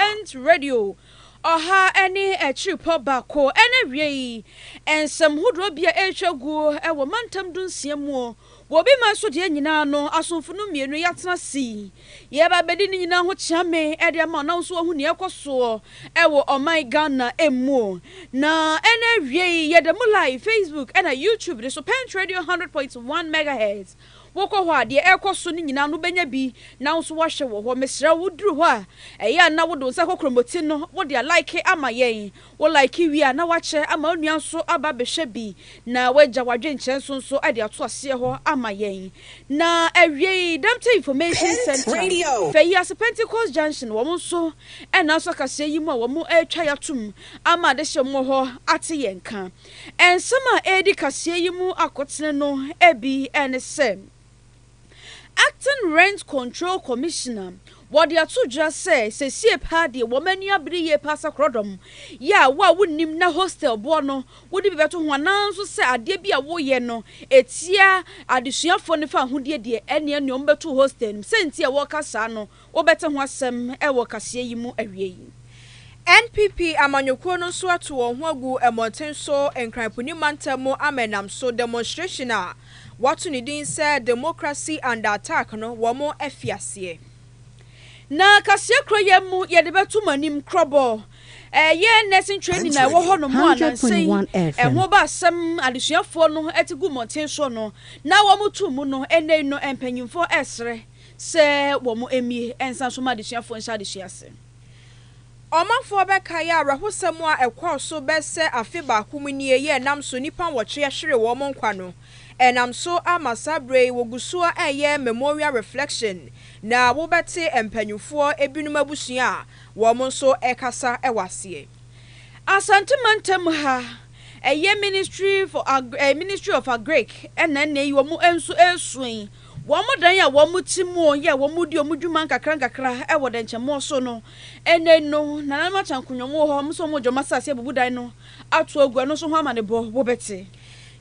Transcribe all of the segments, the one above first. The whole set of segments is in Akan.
Advent Radio, ɔha ne akyirepɔ baako na awiei, nsɛm hodoɔ bi a ɛretwa guo wɔ mantam dunsia muo, wɔ obi man so deɛ nyinaa no, asomfo no mmienu yɛatena ase yi, yɛreba abɛdi ne nyinaa ho kyeame de ama wo na wo nso wahu deɛ ɛrekɔ soɔ wɔ ɔman Ghana muo. Na ɛna awiei, yɛda mu live Facebook ɛna YouTube ne so, Pent Radio 100.1 Megahertz. Wokɔ hɔ a, deɛ ɛrekɔ so no nyinaa no wobɛnya bi na wo nso woahwɛ wɔ hɔ. Mesrɛ wo, woduru hɔ a, ɛyɛ a na wode wo nsa kɔ kromoti no, wode alike ama yɛn. Wo like wie a, na woakyɛ ama wo nua nso aba abɛhwɛ bi, na woagya w'adwenkyerɛ so nso de ato aseɛ hɔ ama yɛn. Na awiei, Demptey Information Centre, fa yi ase, Pentecost Junction, wɔn nso ɛnna nso akaseɛ yi mu a wɔretwa yɛn atom ama adehyeɛ mu wɔ hɔ ate yɛn nka. Nsɛm a edi kaseɛ yi mu akotene no bi ne sɛ, Acting Rent Control Commissioner, Wɔde ato dwa sɛ sesie paa deɛ wɔn ani abere yie paa sɛ korɔdɔm yɛ a wo a wonnim na hostel boɔ no wode bi bɛto ho anaa nso sɛ adeɛ bi a woyɛ no ɛtia adesuafoɔ no fawohodie deɛ ɛneɛ neɛ wɔbɛto wo hostel no mu sɛ nti a wɔka saa no Wobɛte ho asɛm wɔ kaseɛ yi mu awiei. NPP amanyɔkuo no nso ato wɔn ho agu mmɔnten so Nkran Puni mantam mu ama ɛnam so demonstration a wɔato ne din sɛ Democracy Under Attack no wɔn afi aseɛ. Na kaseɛ korɔ yɛ mu yɛde bɛto mo anim korɔbɔ ɛyɛ nursing training a ɛwɔ hɔ nom a nansa yi ɛho ba asɛm adesuafoɔ no ɛte gu mmɔnten soɔ no na wɔn to mu no ɛnɛ yi no mpanyinfoɔ ɛresrɛ sɛ wɔmmue nsan so mma adesuafoɔ nhyɛ adesua ase. Ɔmanfoɔ bɛkae awerɛhosɛm a ɛkɔɔ so bɛsɛ afe baako mu nie yi a ɛnam so nnipa nwɔtwe ahwere wɔn nkwa no. Ɛnam so ama saa berɛ yi wɔgu so ara reyɛ Memorial Reflection na wobɛte mpanimfoɔ binom abusua a wɔn nso rekasa wɔ aseɛ. Asante mantam ha, ɛyɛ Ministry for Agri Ministry of Agric na ɛnnɛ yi wɔn nso resuo yi. Wɔn dan a wɔte mu yɛ wɔn di wɔn dwuma nkakrankakra wɔ dɛnkyɛmmɔ so no. Ɛnnɛ yi no, nananom akyankonyɔn wɔ hɔ a wɔn nso wɔregye wɔn asase abubu dan no ato agu. Ɛno nso ho amanebɔ wobɛte.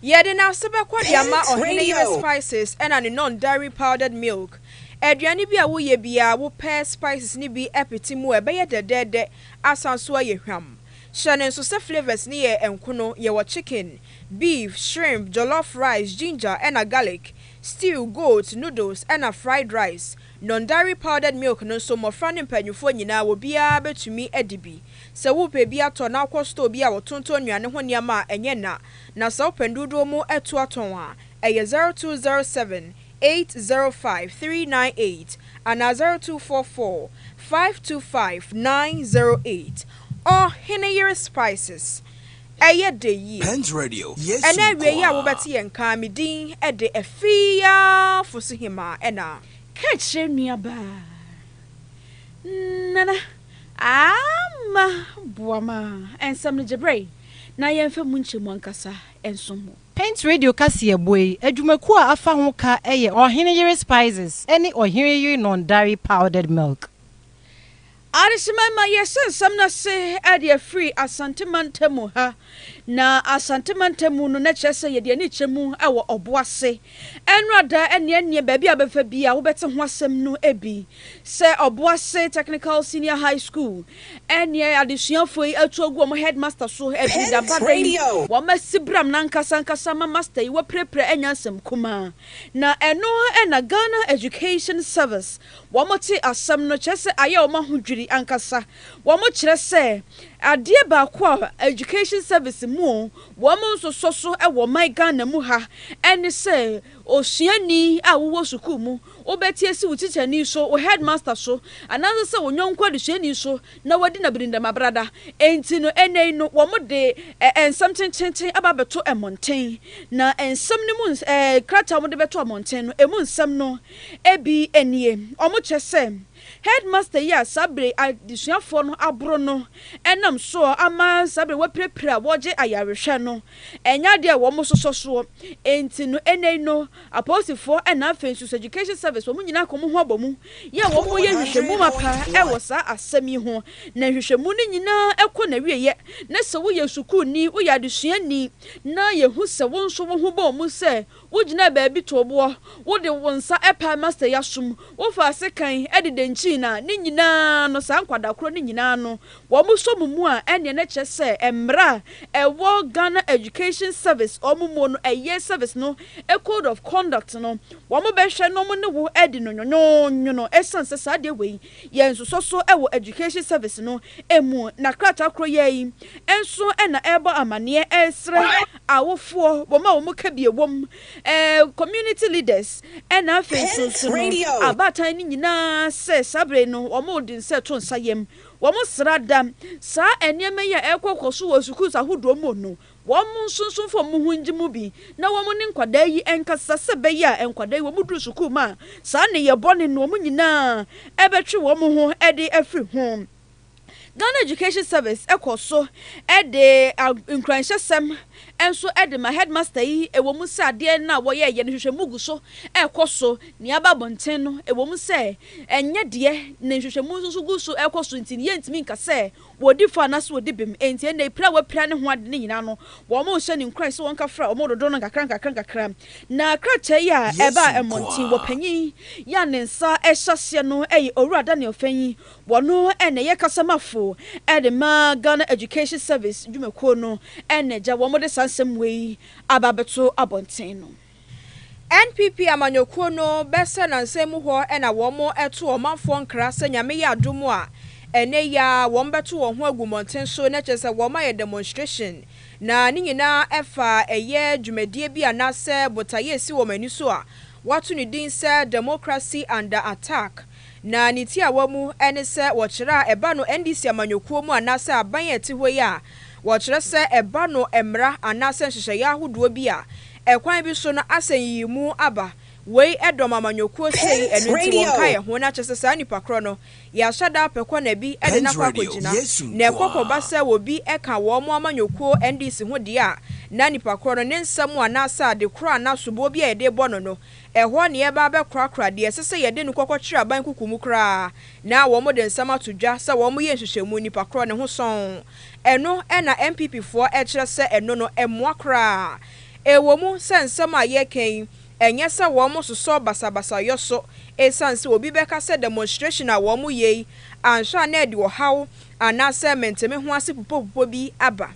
Yɛde n'ase bɛkɔ de ama Ɔhene Yemɛ Spices ɛna ne Nɔn Dairy Powdered Milk. Aduane bi a woyɛ biara wopɛ spices no bi pete mu a ɛbɛyɛ dɛdɛɛdɛ asan nso ayɛ hwam. Hyɛ no nso sɛ flavours no yɛ nkono, yɛwɔ chicken, beef, shrimp, jollof rice, ginger ɛna garlic. stew, goat, noodles, ɛna fried rice. Non-dairy powdered milk no nso, mmɔfra ne mpaninfoɔ nyinaa, obiara bɛtumi adi bi. Sɛ worepɛ bi atɔ na wokɔ store bi a wɔtontɔn nnuane ho nneɛma a, ɛnyɛ nna. Na sɛ wopɛ dodoɔ mu atu atɔn a, ɛyɛ zero two zero seven, eight zero five, three nine eight anaa zero two four four, five two five, nine zero eight. Ɔhene yere spices. Ɛyɛ dɛ yie. Pent Radio, Yesu Ɛna awiei yi a nkoaa. wobɛte yɛn nka me din de Afiafosohemaa ɛna. Ka kyerɛ nuabaa Nana Ama Boama nsɛm no gyebrɛ yi na yɛmfa mu nkyɛ mu ankasa nsom wo. Pent Radio kaseɛbɔ yi adwumakuo a afa ho ka yɛ Ɔhene Yere Spices ne Ɔhene Yere Nɔndare Powdered Milk. Adesamma ma yɛhyɛ nsɛm no ase de afiri Asante mantam mu ha. Na Asante mantam mu no, na ɛkyerɛ sɛ yɛde ani kyerɛ mu wɔ ɔbo ase. Ɛnora da ne ɛneɛ baabi a wobɛfa biara wobɛte ho asɛm no bi. Sɛ ɔbo ase Technical Senior High School, ɛneɛ adesuafoɔ yi atu agu wɔn headmaster so. Ɛfiri da ba da yi, wɔasi bram no ankasa ankasa ma master yi wapirapira anya asɛm kumaa. Na ɛno na Ghana Education Service Wɔte asɛm no, kyerɛ sɛ ayɛ wɔn ahodwiri ankasa. Wɔkyerɛ sɛ adeɛ baako a Education Service mu wɔn nsosɔ so wɔ man Ghana mu ha ne sɛ osuani a wowɔ sukuu mu, wobɛte asi wo tikyani so, wo headmaster so anaasɛ sɛ wo yɔnko adesuani so na wadi no abirindɛm abrada. Enti no, ɛnnɛ yi no, wɔde nsɛm tenteenten aba abɛto mmɔnten. Na nsɛm no mu, krataa a wɔde bɛto mmɔnten no, ɛmu nsɛm no, Ebi nie, wɔkyɛ sɛ Headmaster yi a saa bere adesuafoɔ no aboro no nam soɔ ama saa bere wɔapirapira a wɔregye ayarehwɛ no nyɛ adeɛ a wɔsosɔ soɔ. Enti no ɛnnɛ yi no apolisifoɔ na afei nso Education Service wɔn nyinaa ka wɔn ho abɔ mu yɛ wɔn yɛ nhwehwɛmu mapa wɔ saa asɛm yi ho na nhwehwɛmu no nyinaa kɔ n'awieɛ na sɛ woyɛ sukuuni, woyɛ adesuani na yɛhu sɛ wo nso wo ho bɔɔ mu sɛ Wogyinaa baabi too boɔ, wode wo nsa ɛpaa Master yi asom, wofaa sekan de dankyii no a, ne nyinaa no, saa nkwadaa korɔ no nyinaa no, wɔn sɔ mo mu a, ɛnneɛ na ɛkyerɛ sɛ mmara a ɛwɔ Ghana Education Service wɔn mu no, ɛyɛ service no code of conduct no, wɔn bɛhwɛ na wɔn ne wo adi no nwonwonwono, ɛsiane sɛ saa adeɛ wei Yɛ nsosɔso wɔ Education Service no mu na krataa koro yi ara nso na ɛrebɔ amaneɛ ɛresrɛ awofoɔ, wɔn a wɔn kabie wom, community leaders na afei nso nso no abaatan no nyinaa sɛ saa berɛ yi no wɔde nsa to nsa yam, wɔsra da saa nneɛma yi a ɛrekɔ kɔ so wɔ sukuus ahodoɔ mu no Wɔn nsunsun fam mu ho ngye mu bi na wɔn ne nkwadaa yi nkasa sɛ ɛbɛyɛ a nkwadaa yi wɔduru sukuu mu a saa nneyɛɛ bɔne no wɔn nyinaa bɛtwe wɔn ho de afiri ho. Ghana Education Service kɔ so de nkuranhyɛsɛm nso de ma headmaster yi ɛwɔ mu sɛ adeɛ no a wɔyɛeɛ no nhwehwɛmu gu so rekɔ so nea aba abɔnten no ɛwɔ mu sɛ ɛnyɛ deɛ na nhwehwɛmu nso gu so rekɔ so nti no yɛntumi nka sɛ Wɔdi fɔ anaasɛ wɔdi bem. Enti ɛnnɛ yi, pira a wɔapira ne ho ade no nyinaa no, wɔrehyɛ no nkuran sɛ wɔnkafra wɔn dodow no nkakrankakra. Na krataa yi a ɛbaa mmɔnten wɔ panyin yi a ne nsa hyɛ aseɛ no yɛ Owura Daniel Fenyi, ɔno na ɛyɛ kasamafo de ma Ghana Education Service dwumakuo no na agya wɔn de saa nsɛm wei aba abɛto abɔnten no. NPP amanyɔkuo no bɛ sɛ nansa mu hɔ na wɔn to ɔmanfoɔ nkra sɛ Nyame yɛ adom a ɛnɛ yi ara wɔn bɛto wɔn ho agu mmɔnten so na kyerɛ sɛ wɔn ayɛ demonstration na ne nyinaa ɛfa ɛyɛ dwumadie bi anaasɛ botaeɛ ɛsi wɔn ani so a wɔato ne din sɛ Democracy under attack na ne tiawa mu ne sɛ wɔkyerɛ a ɛba no NDC amanyɔkuo mu anaasɛ aban a ɛte hɔ yi a wɔkyerɛ sɛ ɛba no mmra anaasɛ nhyehyɛeɛ ahodoɔ bi a Ɛkwan bi so no asɛnyiyimu aba. Wei dɔm amanyɔkuo sei ɛno nti wɔn ka yɛ ho na kyɛsɛ saa nipa korɔ no yɛahyɛ da apɛ kɔ na bi de no akɔ akɔgyina na ɛkɔ kɔ ba sɛ wɔ bi ka wɔn mo amanyɔkuo NDC ho deɛ a na nipa korɔ no ne nsɛm anaa sɛ ade korɔ anaa soboɔ bi a yɛde bɔ no no ɛhɔ na yɛba abɛ korakora deɛ ɛsɛ sɛ yɛde no kɔ kɔ kyerɛ aban kuku mu koraa na wɔn de nsɛm ato dwa sɛ wɔn yɛ nhyehyɛmu nipa korɔ ne ho sɔn Ɛno na NPP foɔ kyerɛ sɛ ɛno no ɛmmoa koraa. Ɛwɔ mu sɛ nsɛm a yɛreka yi ɛnyɛ sɛ wɔn sosɔ basabasayɔ so ɛsiane sɛ obi bɛka sɛ demonstration a wɔn yɛ yi anhwɛ a na ɛde ɔhaw anaasɛ mentemeho ase pupopupɔ bi aba.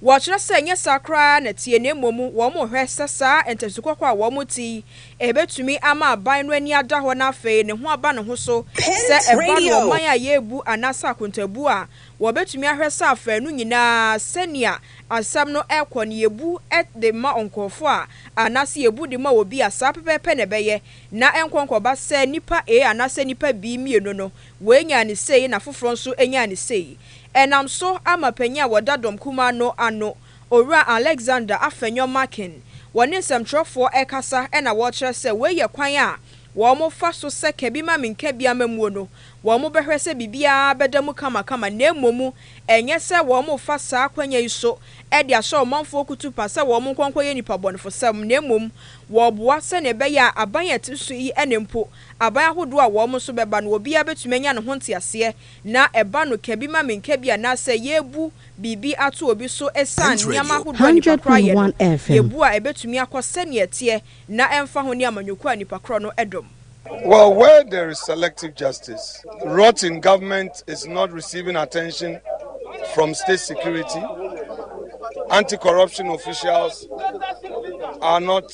Wɔkyerɛ sɛ ɛnyɛ saa koraa na ɛteɛ na mmom wɔhwɛ sɛ saa ntasu kɔkɔɔ a wɔte yi betumi ama aban no ani ada hɔ na afei ne ho aba ne ho so sɛ ɛba no ɔman a yɛrebu anaasɛ akontaabu a wɔbetumi ahwɛ sɛ afanu nyinaa sɛnea asɛm no rekɔ no yebu de ma nkurɔfo a anaasɛ yebu de ma obi a saa pɛpɛɛpɛ na ɛbɛyɛ na ɛnkɔ nkɔba sɛ nnipa A anaasɛ nnipa B mmienu no wei nyaa ne sei na foforɔ nso nyaa ne sei. Ɛnam so ama panyin a wɔda dɔm kumaa no ano, Owura Alexander Afenyo Markin, wɔne nsɛmtwerɛfoɔ rekasa na wɔrekyerɛ sɛ wei yɛ kwan a wɔfa so sɛ kabi-ma-me-nkabi-amammuo no, wɔbɛhwɛ sɛ biribiara bɛda mu kamakama na mmom ɛnyɛ sɛ wɔrefa saa akwanya yi so de ahyɛ ɔmanfoɔ kutupa sɛ wɔnkɔ nkɔyɛ nnipabɔnefosɛm na mmom wɔreboa sɛdeɛ ɛbɛyɛ a aban a ɛte so yi ne mpo aban ahodoɔ a wɔn nso bɛba no obiara bɛtumi anya ne ho nteaseɛ na ɛba no ka bi ma menka bi anaasɛ yɛrebu biribi ato obi so ɛsiane nneɛma ahodoɔ a nnipa korɔ ayɛ no, yɛbu a ɛbɛtumi akɔ sɛdeɛ ɛteɛ na ɛmfa ho ne amanyɔkuo a nnipa korɔ no dɔm. Well where there is selective justice, rotten government is not receiving attention from state security, anti corruption officials are not.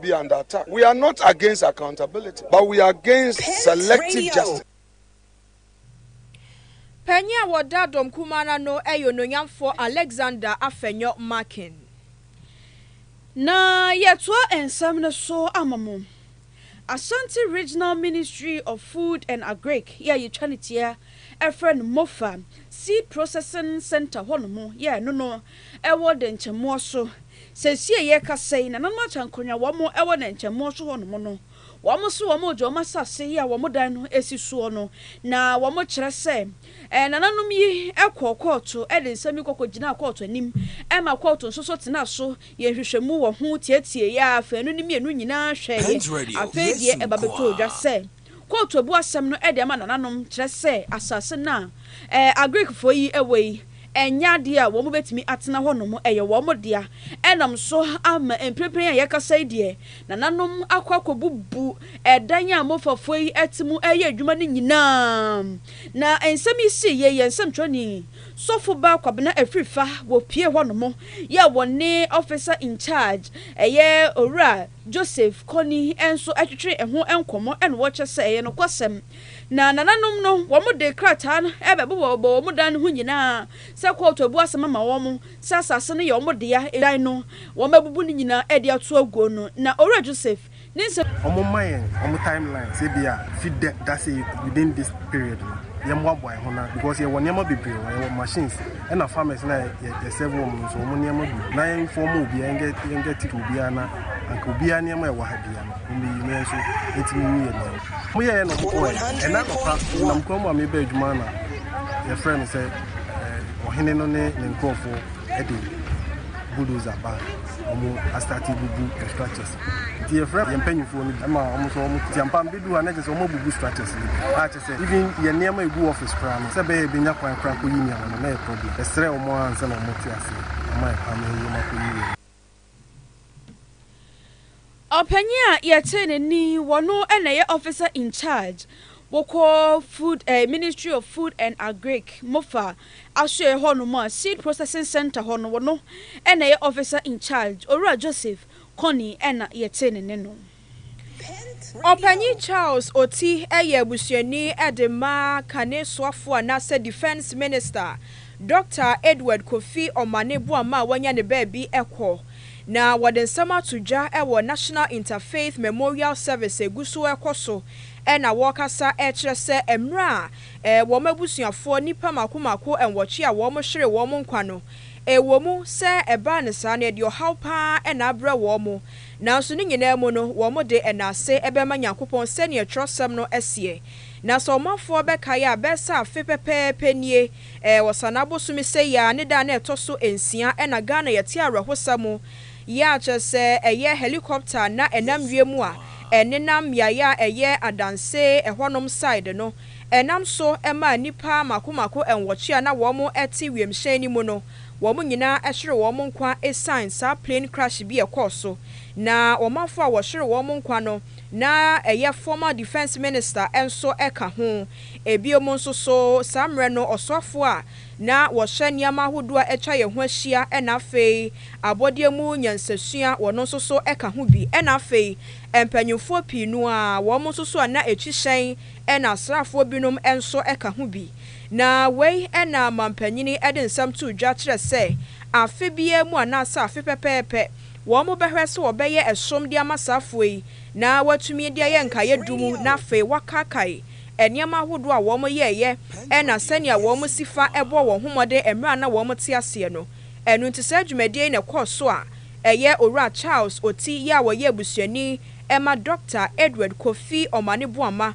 be under attack. We are not against accountability, but we are against Pence selective radio. justice. Panyin a wɔda dɔm kumaa no ano yɛ Onuonyamfoɔ Alexander Afenyo Markin. Na yɛtoa nsɛm no so ama mo. Asante Regional Ministry of Food and Agric yɛ a yɛtwa no tia frɛ no MOFA, Seed Processing Centre hɔ nom yɛ ɛno no ɛwɔ Dɛnkyɛmmoa so. Seesei a yɛrekasa yi, nananom Akyɛnkonwa a wɔwɔ Dɛnkyɛmmoa so hɔnom no, wɔn nso wɔregye wɔn asase yi a wɔn dan no si soɔ no, na wɔkyerɛ sɛ nananom yi kɔɔ kɔɔto de nsɛm yi kɔkɔgyinaa kɔɔto anim ma kɔɔto nso so tenaa so yɛɛ nhwehwɛmu wɔ ho, tiatieeɛ, afanu ne mmienu nyinaa hwɛeɛ. Afei deɛ ɛba bɛtɔɔ dwa sɛ. Quote Obu asɛm no de ama nananom kyerɛ sɛ asase no a Agirikfoɔ yi wɔ yi nyɛ adeɛ a wɔn bɛtumi atena hɔnom, ɛyɛ wɔn dea. Ɛnam so ama mprempren a yɛkasa yi deɛ, nananom akɔ akɔbubu ɛdan a Mofafoɔ yi te mu reyɛ adwuma no nyinaa. Na nsɛm yi sii yei, yɛn nsɛmtwerɛni, Sɔfobaa Kwabena Afrifa, wɔpuee hɔnom yɛɛ wɔn ne Officer in Charge, ɛyɛ Owura. Joseph Kony nso twetwee ɛho nkɔmmɔ na ɔkyɛ sɛ ɛyɛ nokwasɛm. Na nananom no wɔde krataa no bɛbobɔbobɔ wɔn dan no ho nyinaa sɛ kɔɔto abu asɛm ama wɔn sɛ asase no yɛ wɔn dea, dan no wɔabubu ne nyinaa de ato aguo no. Na Owura Joseph ne nsɛm. Wɔmma yɛn wɔn time lines ebia fi dɛ da sei within this period no yɛmmoaboa yɛn ho na because yɛwɔ nneɛma bebree wɔ hɔ, yɛwɔ machines, ɛna farmers na yɛ serve wɔn nso wɔn nneɛma gu na yɛn fɔm obiara yɛn get yɛn get it obiara na anka obiara nneɛma ɛwɔ ha biara no wɔn yi mɛ nso etimi yi yɛ nneɛma mo yɛ yɛ na wɔn kɔ yɛ ɛna papa nam kwan mu a mebɛ adwuma na yɛfrɛ no sɛ ɔhene no ne ne nkurɔfoɔ ɛde bulldozer ba wɔn asate bubu structures nti yɛfrɛ yɛn mpanyinfoɔ no bi ɛma wɔn nso wɔn tiampa mbedu ha na kyerɛ sɛ wɔn abubu structures yi a kyerɛ ɔka sɛ even yɛn nneɛma a egu office koraa no sɛ ɛbɛyɛ a yɛbɛnya kwan koraa akɔyi nneɛma no na ɛyɛ problem. Yɛsrɛɛ wɔn ara ansa na wɔte aseɛ ama yɛn kwan ma yɛn nneɛma kɔyii wɔ mu. Ɔpanyin a yɛtee ne nne yi, ɔno na ɛyɛ officer in charge wokɔ food eh, ministry of food and agric, mofa asoɛɛ hɔ nom a seed processing centre hɔ no, ɔno na ɛyɛ officer in charge, Owura Joseph Kony na yɛtee ne nne no. Ɔpanyin Charles Oti yɛ abusuani de ma kane soafo anaasɛ Defence Minister, Dɔkta Edward Kofi Omane Boamah a wanya ne baabi kɔ, na wɔde nsɛm ato dwa wɔ National Interfaith Memorial Service a egu so rekɔ so na wɔrekasa kyerɛ sɛ mmerɛ a wɔn abusuafoɔ nnipa mako mako nwɔtwe a wɔhweree wɔn nkwa no, ɛwɔ mu sɛ ɛbaa no saa no ɛde ɔhaw pa ara na abrɛ wɔn, Nanso ne nyinaa mu no, wɔn de, ɛnna ase bɛma Nyankopɔn sɛdeɛ twerɛsɛm no seɛ, Na sɛ ɔmanfoɔ bɛkae a, bɛɛsɛ afe pɛpɛɛpɛ nie, ɛɛ, wɔ Sana bosome sei ara ne da a na ɛtɔ so nsia, ɛna Ghana yɛte awerɛhosa mu, yɛ a kyerɛ sɛ ɛyɛ helicopter a na ɛnam wiem a ɛnenam mmeaeɛ a ɛyɛ adanse ɛhɔnom side no ɛnam so maa nnipa mako mako nwɔtwe a na wɔn te wiemhyɛn no mu no Wɔn nyinaa hyeree wɔn nkwa esiane saa plane crash bi a ɛkɔɔ so, na ɔmanfo a wɔhyeree wɔn nkwa no, na ɛyɛ former Defence Minister nso ka ho. Ebinom nso so, saa mmerɛ no, ɔsoafo a na wɔhyɛ nneɛma ahodoɔ a atwa yɛn ho ahyia na afei abɔdeɛ mu nyansasua, wɔn nso so ka ho bi, ɛnna afei mpanimfoɔ pii no ara, wɔn nso so a na ɛkyi hyɛn na asraafoɔ binom nso ka ho bi. Na wei na manpanyin de nsɛm too dwa kyerɛ sɛ afe biara mu anaasɛ afe pɛpɛɛpɛ wɔbɛhwɛ sɛ wɔbɛyɛ ɛsom de ama saa afoa yi na wɔatumi de ayɛ nkaeɛ dum na afei wɔakaakae nneɛma ahodoɔ a wɔyɛeɛ na sɛnea wɔsi fa bɔɔ wɔn ho mmɔden mmerɛ a na wɔte aseɛ no. Ɛno nti saa dwumadie yi na ɛkɔɔ so a ɛyɛ Owura Charles Oti yɛ a ɔyɛ abusuani ma Dɔkta Edward Kofi Omane Boamah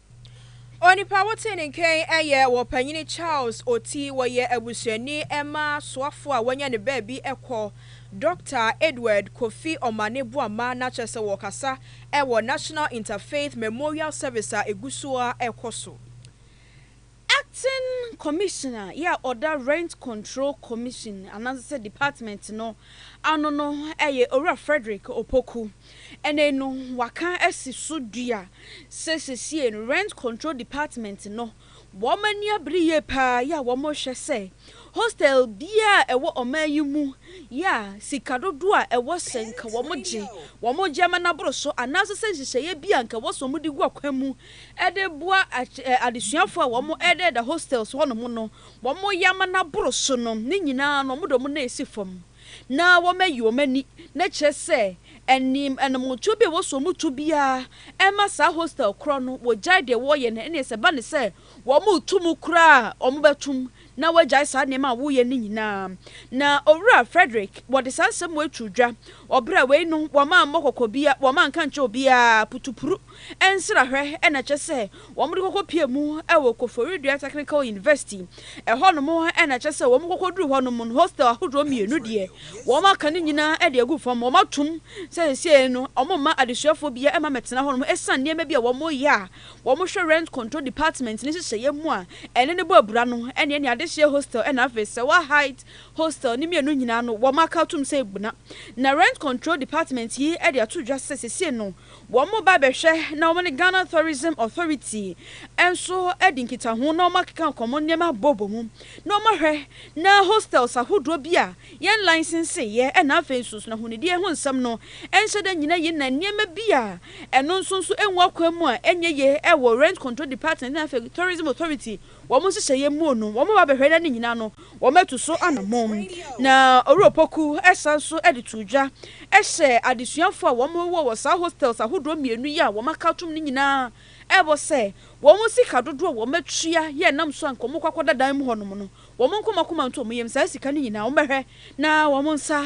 Onipa wotee ne nken yɛ wɔ Panyini Charles Oti wɔyɛ abusuani mma soafo a wanya ne baabi kɔ Dɔkta Edward Kofi Omane Boamah na kyerɛ sɛ wɔkasa wɔ National Interfaith Memorial Service a ɛgu so ara rekɔ so Acting Commissioner yɛ a ɔda Rent Control Commission anaasɛ department no ano no yɛ Owura Frederick Opoku. Ɛnnɛ yi no wɔaka asi so dua sɛ sesie no Rent Control Department no wɔn ani abere yie pa ara yɛ a wɔrehwɛ sɛ hostel biara a ɛwɔ ɔman yi mu yɛ a sika dodoɔ a ɛwɔ sɛ nka wɔgye wɔn gye ma no aboro so anaasɛ sɛ nhyehyɛeɛ bi a nka ɛwɔ sɛ wɔde gu akwan mu de boa adesuafo a wɔdeda hostels hɔnom no, wɔyɛ ama no aboro so no, ne nyinaa no, wɔde wɔn nan asi fam na wɔayi wɔn ani, na kyerɛ sɛ, anim, anammɔntuo bi a ɛwɔ so wɔn tu biara mma saa hostel korɔ no, wɔgyae deɛ wɔreyɛ no, ɛnneɛ sɛ ɛba no sɛ wɔretu mu koraa a, wɔbɛtu mu. na woagyae saa nneɛma a woreyɛ no nyinaa. Na Owura Frederick, wɔde saa nsɛm wei too dwa, Ɔbra wei no, wɔmma mmɔ kɔkɔ biara, wɔmma nka nkyerɛ obiara, putupuru, nsrahwɛ na ɛkyɛ sɛ wɔde kɔkɔ pue mu wɔ Koforidua Technical University. Ɛhɔnom na ɛkyɛ sɛ wɔkɔduru hɔnom no, hostel ahodoɔ mmienu deɛ, wɔaka ne nyinaa de agu fam. Wɔatom sɛ seesei no, wɔmma adesuafoɔ biara mma mmɛtena hɔnom ɛsiane nneɛma bi a wɔreyɛ a wɔhwɛ Rent Control Department ne nhyehyɛeɛ mu a ɛne no bɔ abira no ne ɛne Adehyeɛ Hostel ɛna afei Sewaa Height Hostel ne mmienu nyinaa no wɔn aka atom sɛ abuna na Rent Control Department yi de ato dwa sɛ sesie no wɔn ba bɛhwɛ na wɔne Ghana Tourism Authority nso adi nkitaho na wɔn akeka nkɔmmɔ nneɛma bɔbɔ mu na wɔn ahwɛ na Hostels ahodoɔ bi a yɛn licenseeɛ ɛna afei nso nso na ahonidie ho nsɛm no nhyɛ da nyina yi na nneɛma bi a Ɛno nso nso ɛnwu akwan mu a ɛnyɛ yie ɛwɔ Rent Control Department na afei Tourism Authority wɔn nhyehyɛeɛ muo no wɔn ba bɛhwɛ na ne nyinaa no wɔn atu so anamɔn. Na Owura Opoku ɛsan nso ɛde too dwa ɛhyɛ adesuafoɔ a wɔn wɔ wɔ saa hostels ahodoɔ mmienu yi a wɔn aka atom no nyinaa ɛbɔ sɛ wɔn sika dodoɔ a wɔn atua yɛ nam so a nka wɔn kɔ akɔda dan mu hɔ nom no wɔn nkɔmakoma nto wɔn yam saa sika no nyinaa wɔn bɛhwɛ na wɔn nsa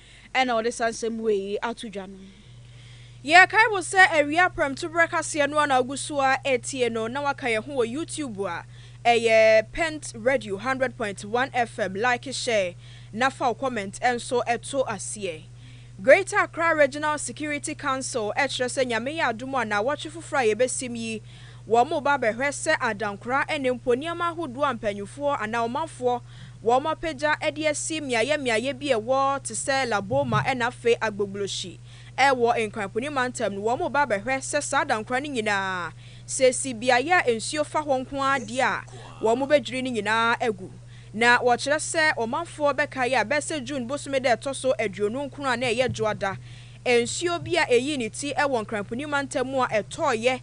na ɔde saa nsɛm wei yi ato dwa no. Yɛkae wo sɛ awia prɛmtoberɛ kaseɛ no a na wogu so ara retie no na woaka yɛn ho wɔ YouTube a, ɛyɛ Pent Radio Hundred Point One FM, like, share na fa wo comment nso to aseɛ. Greater Accra Regional Security Council kyerɛ sɛ Nyame yɛ adom a naawɔtwe foforɔ a yɛbɛsim yi wɔreba abɛhwɛ sɛ adankora ne mpo nneɛma ahodoɔ a mpanyinfoɔ anaa ɔmanfoɔ wɔapagya de asi mmeaeɛ mmeaeɛ bi a ɛwɔ te sɛ La Boma na afei Agbogbloshie. Wɔ Nkoanpuni mantam no, wɔreba abɛhwɛ sɛ saa adankora no nyinaa, sɛ ɛsi beaeɛ a nsuo fa hɔ nko ara deɛ a, wɔbɛdwiri ne nyinaa agu. Na wɔkyerɛ sɛ ɔmanfoɔ bɛkae a, bɛyɛ sɛ June bosome da a ɛtɔ so aduonu nkron a na ɛyɛ Dwoada, nsuo bi a ɛyii ne ti wɔ Nkoanpuni mantam mu a ɛtɔeɛ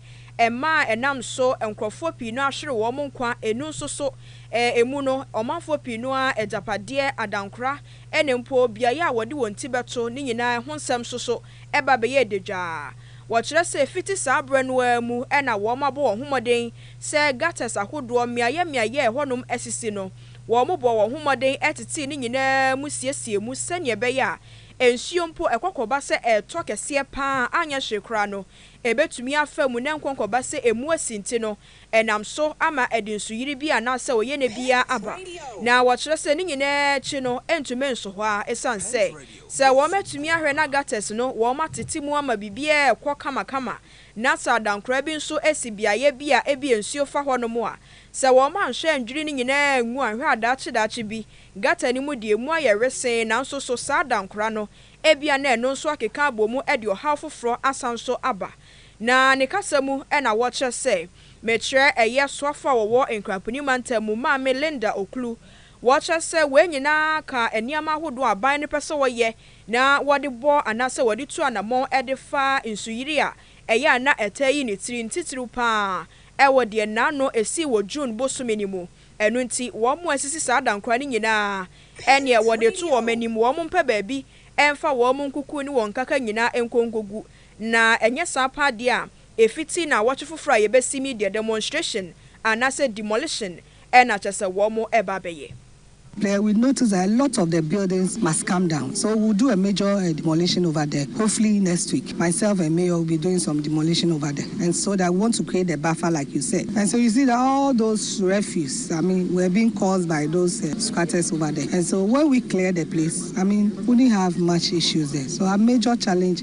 maa ɛnam so nkurɔfoɔ pii no ahwere wɔn nkwa, ɛnu nso so, emu no, ɔmanfoɔ pii no ara agyapadeɛ, adankora, ne mpo beaeɛ a wɔde wɔn ti bɛto ne nyinaa ho nsɛm nso so ba bɛyɛɛ dadwaa. Wɔkyerɛ sɛ fiti saa berɛ no ara mu na wɔabɔ wɔn ho mmɔden sɛ gutters ahodoɔ mmeaeɛ mmeaeɛ a ɛhɔnom asisi no, wɔbɔɔ wɔn ho mmɔden tetee ne nyinaa mu siesiee mu sɛdeɛ ɛbɛyɛ a nsuo mpo ɛkɔkɔba sɛ ɛretɔ kɛseɛ pa ara a anyɛ hwee koraa no ɛbɛtumi afa mu na ɛnkɔnkɔba sɛ emu asi nti no ɛnam so ama ɛde nsuyiri bi anaasɛ oyenɛ biara aba, na wɔkyerɛ sɛ ne nyinaa akyi no ɛntumi nso hɔ ara esiane sɛ sɛ wɔatumi ahwɛ na gutters no wɔatete mu ama biribiara rekɔ kamakama na sɛ adankora bi nso asi beaeɛ bi a ebia nsuo fa hɔnom a, sɛ wɔanhwɛ annwiri ne nyinaa angu anhwɛ a daakye daakye bi gutter no mu deɛ emu ayɛ wesee nanso so saa adankora no ebia na ɛno nso akeka abɔ mu de ɔhaw foforɔ asan nso aba. Na ne kasa mu na wɔkyerɛ sɛ mekyerɛ ɛyɛ soafo a wɔwɔ Nkramponi Mantam mu, Maame Linda Oklu. Wɔkyerɛ sɛ wei nyinaa ka nneɛma ahodoɔ a aban no pɛ sɛ wɔyɛ na wɔde bɔ anaasɛ wɔde tu anammɔn de fa nsuyiri a ɛyɛ a na ɛtaa yi ne tiri, ntitiriw pa ara wɔ deɛ nnaano ɛsii wɔ June bosome no mu. Ɛno nti wɔn a asisi saa adankora no nyinaa ɛneɛ wɔde to wɔn anim, wɔn mpɛ baabi mfa wɔn nkuku ne wɔn nkaka nyinaa nkɔ nkɔgu Na ɛnyɛ saa paa deɛ a, ɛfiti naawɔtwe foforɔ a yɛbɛsim yi deɛ demonstration anaasɛ demolition na kyerɛ sɛ wɔn reba abɛyɛ. There we notice that a lot of the buildings must come down so we'll do a major demolition over there hopefully next week myself and mayor will be doing some demolition over there and so that we want to create the buffer like you said and so you see that all those refuse I mean were being caused by those squatters over there and so when we clear the place I mean wouldn't have much issues there so our major challenge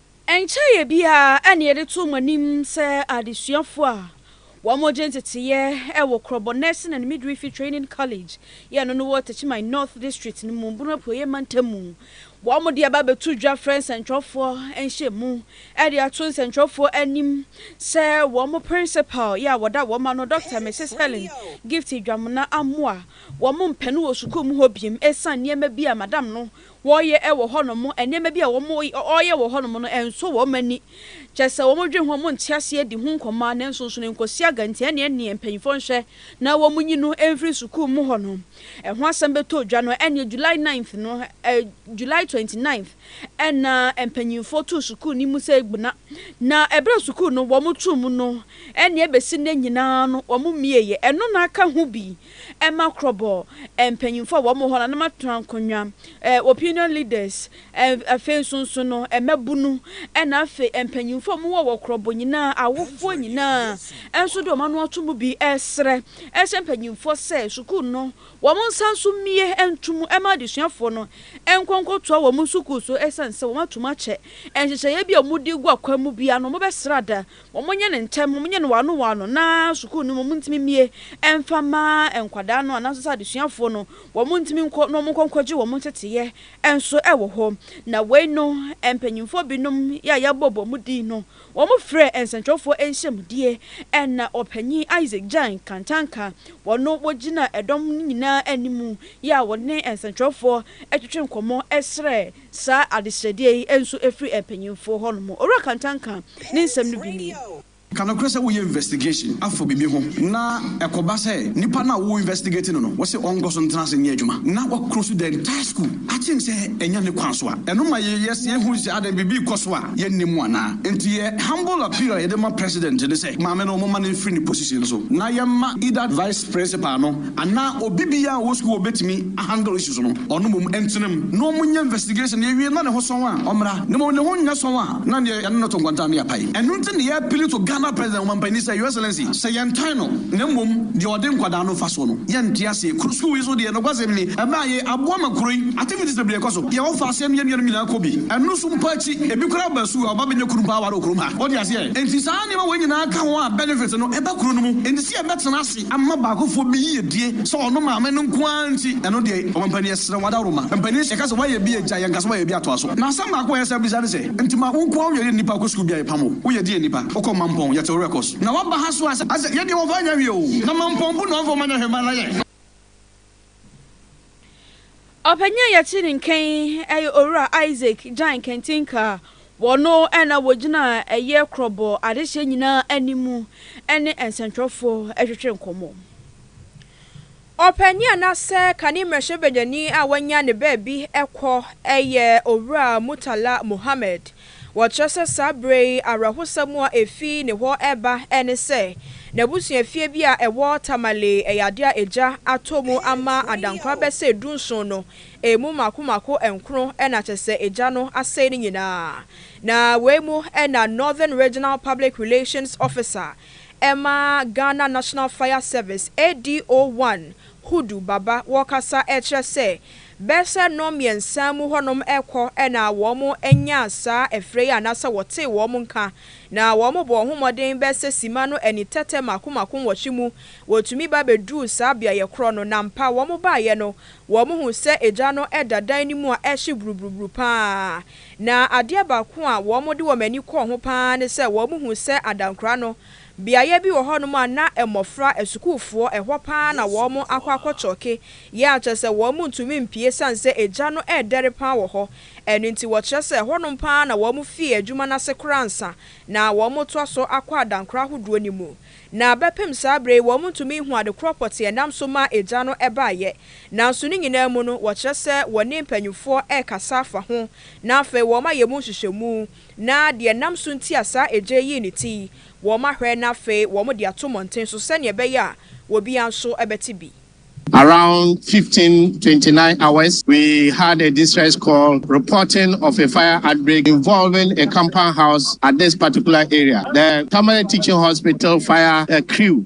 Nkyɛeɛ biara na yɛde to mo anim sɛ adesuafoɔ a wɔgye nteteeɛ wɔ Krɔbɔ Nursing and Midwifery Training College, yɛ ɛno no wɔ Techiman North District no mu, Bono Apueeɛ Mantam mu. Wɔde aba abɛto dwa frɛ nsɛntwerɛfoɔ nhyiamu de ato nsɛntwerɛfoɔ anim sɛ wɔn Principal yɛ a wɔda wɔn ano, Dɔkta Misis Helen Gifty Dwamena amoa wɔn mpɛ no wɔ sukuu mu hɔ biom ɛsiane nneɛma bi a Madam no wɔyɛ wɔ hɔ nom, nneɛma bi a wɔyɛ wɔ hɔ nom no ɛnsɔ wɔn ani, kyerɛ sɛ wɔn dwen ho, wɔn nte aseɛ di ho nkɔmmɔ a, nanso nso no nkɔsia gantia ne ɛneɛ mpanyinfoɔ nhwɛ na wɔn nyi no mfiri sukuu mu hɔ nom. Ɛho asɛm bɛtɔ dwa no ɛneɛ July ninth no, July twenty ninth, ɛna mpanyinfoɔ too sukuu no mu sɛ ɛgbuna, na ɛberɛ a sukuu no wɔn too mu no ɛneɛ bɛsi nnɛ nyinaa no wɔn mmieɛ, ɛno na aka ho bi. ɛma korɔbɔɔ eh, mpanyimfoɔ a wɔn wɔ hɔ no a na wɔatena nkonnwa eh, opinion leaders eh, afei nso nso no eh, mmabunu ɛna afei mpanyimfoɔ a wɔwɔ wɔ korɔbɔ nyinaa awofoɔ nyinaa nso de wɔn ano ato mu bi ɛresrɛ ɛhyɛ mpanyimfoɔ sɛ sukuu no wɔn nsa nso mmie nto mu ɛma adesuafoɔ no nkɔ nkɔtoa wɔn sukuu so ɛsiane sɛ wɔn atom akyɛ nhyehyɛeɛ bi a wɔde gu akwan mu bia no wɔbɛsrɛ ada Wɔnyɛ no ntɛm, wɔnyɛ no wɔano wɔano na sukuu no mu wɔntumi mmue mfa mma nkwadaa no anaasɛ sɛ adesuafoɔ no wɔntumi nkɔ na wɔnkɔ nkɔgye wɔn nteteeɛ nso wɔ hɔ. Na wei no mpanimfoɔ binom a yɛabɔ wɔn din no, wɔfrɛɛ nsɛntwerɛfoɔ nhyiamudie na Ɔpanyin Isaac Jang Kantanka wɔno wɔgyinaa dɔm no nyinaa anim a wɔne nsɛntwerɛfoɔ twetwee nkɔmmɔ srɛɛ saa adesrɛdeɛ yi nso firi mpanyinfoɔ hɔ nom. Owura Kantan ka ne nsɛm no bi nie. Ka nokorɛ sɛ woyɛ investigation afa bibi ho na ɛkɔba sɛ nipa no a wo investigate no no wose ɔnkɔso ntena ase nyɛ adwuma na wa close the entire school akyem sɛ ɛnyɛ ne kwan so a ɛno ma yɛ yɛ yɛ hu sɛ adɛn bibi kɔso a yɛ nnim anaa? Nti yɛ humble appeal a yɛde ma president ne sɛ maame no momma no mfiri ne position so na yɛmma either vice principal no Anaa obi biaa a ɔwɔ sukuu a ɔbɛtumi a handle issues no, ɔno mmom ɛntena mu na ɔmo nyɛ investigation yɛwie na ne ho sɔn a ɔmmra na mmom ne ho nyɛ sɔn a na neɛ yɛne no to nkɔntaa na yɛapae. Ɛno nti na yɛ appeal to Ghana President Omanpanin sɛ Your Excellency sɛ yɛntan no na mmom deɛ ɔde nkwadaa no mfasoɔ no yɛnte aseɛ. Kuro sukuu yi so deɛ nokwasɛm ni ɛbaeɛ aboa ma kuro yi activities bebree kɔ so, deɛ ɔfa aseɛ no yɛn nuanom nyinaa kɔ bi, ɛno nso mpo akyi ebi koraa ba sukuu a ɔba bɛnya kunu mpo aware wɔ kurom ha. Wote aseɛ? Enti saa nneɛma wei nyinaa ka ho a benefit no ɛba kuro no mu enti sɛ yɛbɛtena ase. ama baakofoɔ bi yiedie sɛ ɔno maame no nko ara nti ɛno deɛ ɔma mpanin yɛsrɛ wo adaworoma mpanin sɛ yɛka sɛ woayɛ bi agya yɛnka sɛ woayɛ bi atoa so na asɛm baako a yɛsan bisa ne sɛ nti ma wo nko ara woyɛ deɛ nnipa kɔ sukuu bia yɛpam wo woyɛ deɛ nnipa wokɔ mampɔn yɛte wo werɛ kɔ so na woaba ha so a sɛ yɛdeɛ wɔmfa nyɛ hwee o na mampɔn mpo na wɔmfa wɔn nyɛ hwee ma na yɛ Ɔpanyin a yɛte ne nka yi yɛ Owura Isaac Gyan Kantinka a wɔno na wɔgyina ɛyɛ korɔbɔ adehyeɛ nyinaa anim ne nsɛntwerɛfoɔ retwetwe nkɔmmɔ. Ɔpanyin anaasɛ kane mmarahyɛbadwani a wanya ne baabi kɔ yɛ Owura Murtala Mohammed Wɔkyerɛ sɛ saa bere yi awerɛhosɛm a efi ne hɔ reba ne sɛ n'abusuafie bi a ɛwɔ Tamale yɛ ade a egya atɔ mu ama adankora bɛsɛe dunson no, emu mmaako mmaako nkron na kyerɛ sɛ egya no asɛe ne nyinaa. Na wei mu na Northern Regional Public Relations Officer ma Ghana National Fire Service, ADO-1, Hudu baba wɔkasa kyerɛ sɛ bɛsɛ nnɔn mmiɛnsa mu hɔnom kɔ na wɔn nyaa saa ɛfrɛ yi anaasɛ wɔtee wɔn nka na wɔn bɔɔ ho mmɔden bɛsɛ sima no ani tɛtɛ mako mako nwɔtwe mu wɔtumi ba bɛduruu saa beaeɛ korɔ no na ampa wɔn baeɛ no wɔn huu sɛ egya no da dan no mu a ɛhye buruburuburu paa na adeɛ baako a wɔn de wɔn ani kɔɔ ho paa ne sɛ wɔn huu sɛ adankora no Beaeɛ bi wɔ hɔnom a na mmɔfra, asukuufoɔ, ɛhɔ pa ara na wɔn akɔ akɔkyɔɔke yɛ a kyerɛ sɛ wɔn ntumi mpue ɛsiane sɛ egya no redɛre pa ara wɔ hɔ. Ɛno nti wɔkyerɛ sɛ ɛhɔnom pa ara na wɔn fii adwuma no ase koraa ansa na wɔretoa so akɔ adankora ahodoɔ no mu. Na bɛpem saa berɛ yi wɔntumi nhu ade korɔ pɔtee a ɛnam so maa egya no baeɛ. Nanso ne nyinaa mu no wɔkyerɛ sɛ wɔne mpanimfoɔ rekasa afa ho na afei wɔayɛ mu nhwehwɛmu. Na deɛ ɛnam so nti a saa egya yi yii ne ti yi, wɔahwɛ na afei wɔde ato mmɔnten so sɛdeɛ ɛbɛyɛ a obiara nso bɛte bi. Around fifteen twenty nine hours, we had a distress call reporting of a fire outbreak involving a compound house at this particular area. The Tamale Teaching Hospital fire crew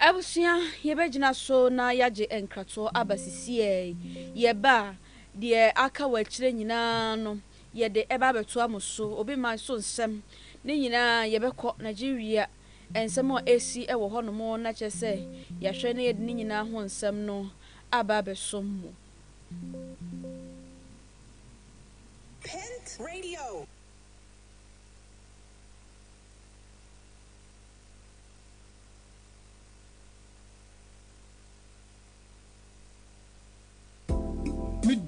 Abusua, yɛbɛgyina so na yɛagye nkratoɔ aba sisiiɛ yi. Yɛba a, deɛ aka wɔ akyire nyinaa no, yɛde ɛba abɛtoa mo so. Obi mma so nsɛm, ne nyinaa yɛbɛkɔ. Nigeria, nsɛm a ɛresi wɔ hɔnom no akyerɛ sɛ yɛahwɛ na yɛde ne nyinaa ho nsɛm no aba abɛso mo. Pent Radio.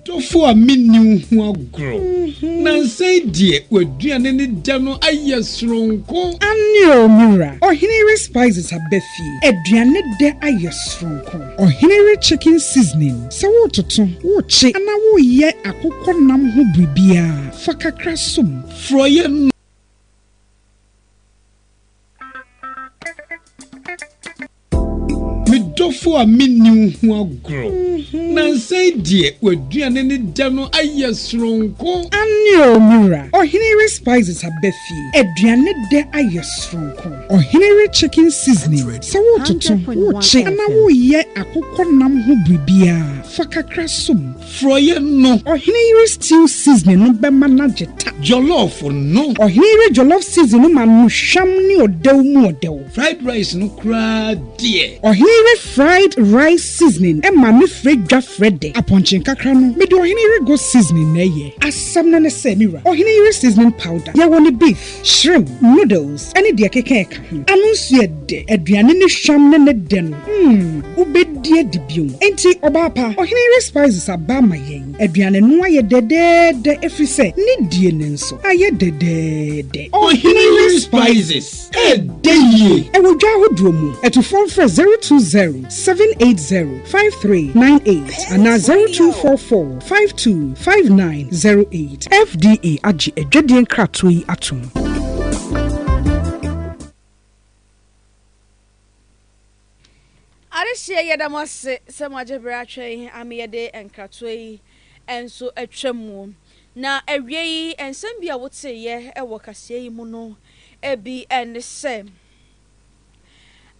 dɔfo a menni wo ho agorɔ mhm. nansa yi deɛ w'aduane ne dɛ no ayɛ soronko aneo me wura ɔhene yere spices aba fie aduane dɛ ayɛ soronko ɔhene yere chicken seasoning sɛ wototo wokye ana woyɛ akokɔ nam ho biribiara fa kakra som forɔyɛ no Me dɔfo a menni wo ho agorɔ. Mhm. Nansa yi deɛ w'aduane ne dɛ no ayɛ soronko. Aane o, me wura. Ɔhene re spices aba fie. Aduane dɛ ayɛ soronko. Ɔhene re chicken seasoning. Sɛ wototo, wokye anaa woyɛ akokɔ nam ho biribiara, fa kakra som. Frɔeɛ no. Ɔhene yere stew seasoning no bɛma no agye ta. Jollof no. Ɔhene yere jollof seasoning no ma no hwam ne ɔdɛw mu ɔdɛw. Fried rice no koraa deɛ. Ɔhene yere fried rice seasoning ma no frɛ dwa frɛ dɛ. Apɔnkye nkakra no, mede ɔhene yere goat seasoning na ɛyɛ. Asɛm no ne sɛ, me wura, ɔhene yere seasoning powder, yɛwɔ no beef. Shrimp, noodles ne deɛ ɛkeka ɛka ho. Ano nso yɛ dɛ. Aduane no hwam ne ne dɛ no, mm, wobɛdi adi bio. Enti, ɔbaa pa, ɔhene yere spices aba ama yɛn. Aduane no ayɛ dɛdɛɛdɛ ɛfiri sɛ ne die no nso ayɛ dɛdɛɛdɛ. Ɔhene yere spices ɛdɛ yie. Ɛwɔ dwa ahodoɔ mu. Atufoɔ mfrɛ zero two zero seven eight zero five three nine eight anaa zero two four four Five two five nine zero eight. FDA agye adwadie nkratoɔ yi atom. Adehyeɛ yɛda mo ase sɛ mo agye berɛ atwɛn ama yɛde nkratoɔ yi nso atwa mu. Na awie yi, nsɛm bi a woteeɛ wɔ kaseɛ yi mu no, ebi ne sɛ.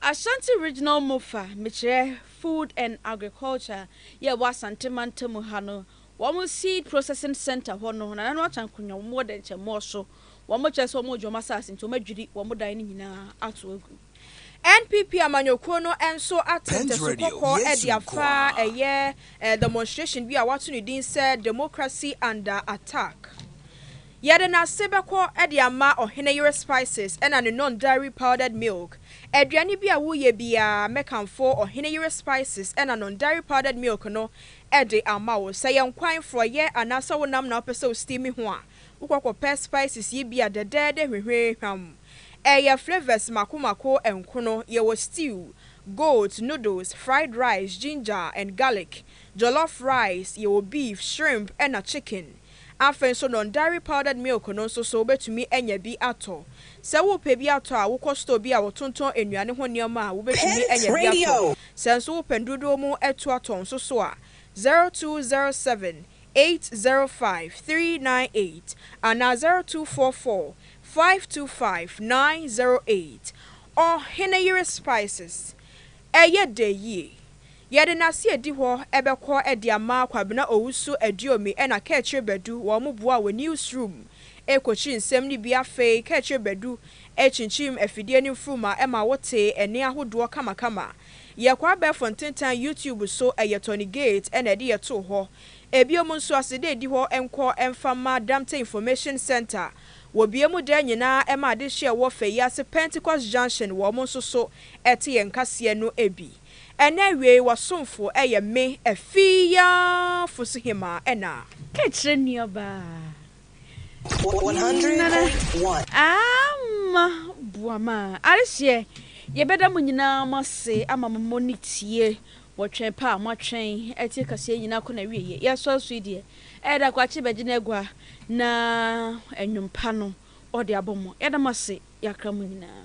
Ashanti Regional Mofa mekyerɛ Food and Agriculture yɛ wɔ Asante mantamu ha no wɔn seed processing centre hɔ no nananom ato ankonwa wɔn wɔ dɛnkyɛmmoɔ so wɔn kyerɛ sɛ wɔn regye wɔn asaase nti wɔn adwiri wɔn dan no nyinaa ato agu. NPP amanyɔkuo no nso ato ntasu kɔkɔɔ de afa ɛyɛ demonstration bi a wɔato ne din sɛ Democracy Under Attack. Yɛde n'ase bɛkɔ de ama ɔhene yere spices ɛna ne non dairy powdered milk. Aduane bi a woyɛ biara mɛkamfo ɔhene yere spices ɛna non dairy powdered milk no de ama wo. Sɛ yɛ nkwan, frɔyɛ anaasɛ wo nam na wopɛ sɛ wo steam ho a, wokɔ kɔpɛ spices yi bia dɛdɛɛdɛ hwehwee hwam. Ɛyɛ flavours mako mako nkono, yɛwɔ stew, goat, noodles, fried rice, ginger and garlic, jollof rice, yɛwɔ beef, shrimp ɛna chicken. Afei nso non-dairy powdered milk no nso so wobɛtumi anya bi atɔ. Sɛ worepɛ bi atɔ a, wokɔ store bi a wɔtontɔn nnuane ho nneɛma a, wobɛtumi anya bi atɔ. Sɛ nso wopɛ ndodoɔ mu atuatɔ nso so a, zero two zero seven eight zero five three nine eight anaa zero two four four five two five nine zero eight. Ɔheneyere Spices, Ɛyɛ dɛ yie! Yɛde nase edi hɔ ɛbɛkɔ ɛde ama Kwabena Owusu Aduomi ɛna Kɛkyire Badu wɔ ɔmo boa wɔ news room ɛkokyi nsɛm no bi afei Kɛkyire Badu ɛkyinkyim afidie no mfuruma ɛma wo te ɛne ahodoɔ kama kama yɛ kɔ abɛɛfo ntentan YouTube so ɛyɛ Tony Gate ɛna ɛde yɛ too hɔ ebiom nso aseda edi hɔ nkɔ ɛmfa ma Damte Information Centre wɔ bie mu daa nyinaa ɛma adehyeɛ ɛwɔ fɛ yi ase Pentecost Junction wɔ ɔmo nso so ɛte yɛn nkaseɛ no bi. Ɛna awiei w'asomfo yɛ me afii yi ara fo so hemmaa ɛna. Ka kyerɛ nuabaa Nana Ama Boama adehyeɛ Yɛbɛda mo nyinaa mo ase ama mo mo ne tie wɔ twɛn pɛ a mo atwɛn atie kaseɛ nyinaa kɔ n'awieɛ Yɛ sɔre so yi deɛ ɛyɛ da Kwakye bɛgye n'agua na nnwom pa no ɔde abɔ mo Yɛda mo ase Yɛakra mo nyinaa.